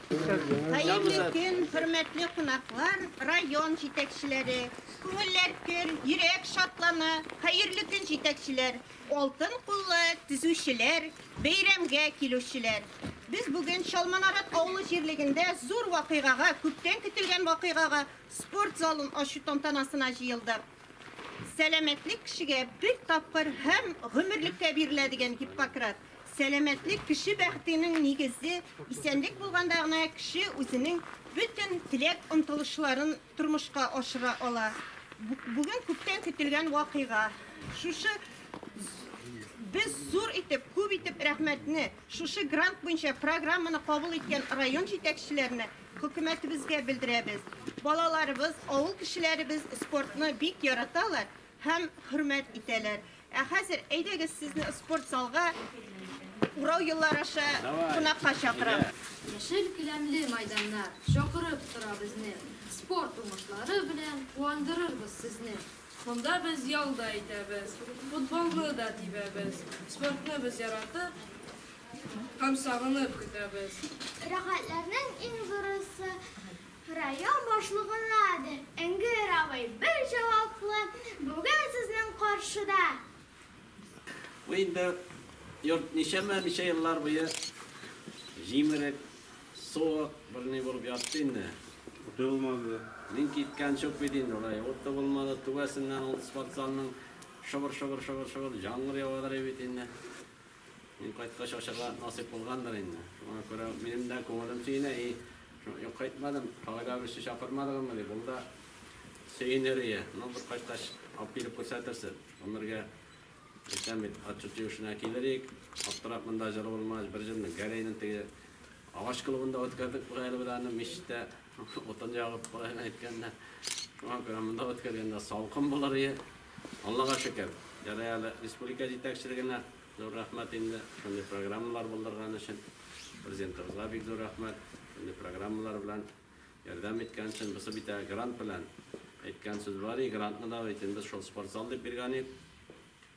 Хәерле көн, хөрмәтле кунаклар, район җитәкчеләре. Күңелләр көр, йөрәк шатлана. Хәерле көн, җитәкчеләр, алтын куллы төзүчеләр, бәйрәмгә килүчеләр. Без бүген Чалманарат авылы җирлегендә зур вакыйгага, күптән көтелгән вакыйгага Спорт залын ачу тантанасына җыелдык. Сәламәтлек кешегә бер тапкыр һәм гомерлеккә бирелә, дигән Гиппократ. Сәламәтлек кеше бәхетенең нигезе, исәнлек булганда гына кеше үзенең бөтен теләк-омтылышларын тормышка ашыра ала. Бүген күптән көтелгән вакыйга. Шушы без зур итеп, күп итеп рәхмәтне, шушы грант буенча программаны кабул иткән район җитәкчеләренә, Хөкүмәтебезгә белдерәбез, балаларыбыз, авыл кешеләребез спортны бик яраталар һәм хөрмәт итәләр. Ә хәзер әйдәгез сезне спорт залга урау юллары аша кунакка чакырам. Яшел келәмле майданнар чакырып тора безне, спорт уңышлары белән куандырырбыз сезне. Монда без ял да итәбез, футболны да тибәбез, спортны без яратып, Һәм сагынып көтәбез. Рәхәтләрнең иң зурысы район башлыгынадыр. Энгер абый бер җаваплы бүген сезнең каршыда. Бу инде йорт ничәмә ничә еллар буе җимерек, суык, берни булып ятты инде. Уты булмады. Мин киткәнче үк бит инде алай. Уты булмады, түбәсеннән ул спортзалның шыбыр-шыбыр-шыбыр-шыбыр җаңгыр явадырый бит инде. Мин кайткач ачарга насыйп булгандыр инде. Шуңа күрә минем дә күңелем сөенә, и, юк кайтмадым, Фагыйлә абыйсы чакырмадыгызмы дип, ул да сөенер ие. Ну, бер кайткач алып килеп күрсәтерсез. Гомергә әйтәм бит, отчет җыючына килер идек. Аптырап монда җыр булмагач, бер җырны Гәрәйнең теге агач клубында үткәрдек бит әле без аны, мичтә. Утын ягып, былай әйткәндә, шуңа күрә монда үткәргәндә салкын булыр иде. Аллага шөкер, ярый әле республика җитәкчелегенә зур рәхмәт инде шундый программалар булдырган өчен. Президентыбызга бик зур рәхмәт шундый программалар белән ярдәм иткән өчен. Бусы бит грант белән әйткән сүз бар и грантны да бит инде шул спортзал дип биргән ид.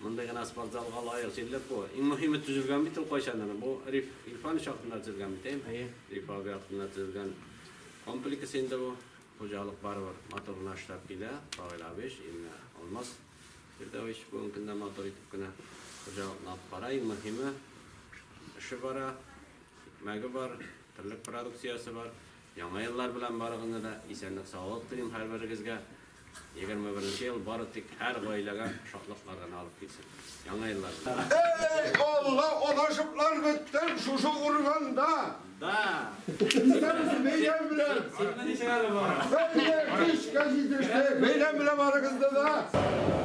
Мондый гына спортзалга лаек җирлек бу. Иң мөһиме төзелгән бит ул кайчандыр. Бу Риф Илфанович вакытында төзелгән бит, әйеме? Әйе. Риф абый вакытында төзелгән комплекс инде бу. Хуҗалык барыбер матур гына эшләп килә. Равил абыич, именно Алмаз Фирдәвич бүгенге көндә матур итеп кенә хуҗалыкны алып бара. Иң мөһиме, эше бара, икмәге бар, терлек продукциясе бар. Яңа еллар белән барыгызны да, исәнлек саулык телим һәрберегезгә, егерме беренче ел бары тик һәр гаиләгә шатлыклар гына алып килсен, яңа еллар белән. Эх, Алла, алашыплар беттем шушы урманда. Да! Исәнмесез, бәйрәм белән! Синме ничек әле бу? Бәйрәм, кичкә җитештек, бәйрәм белән барыгызны да!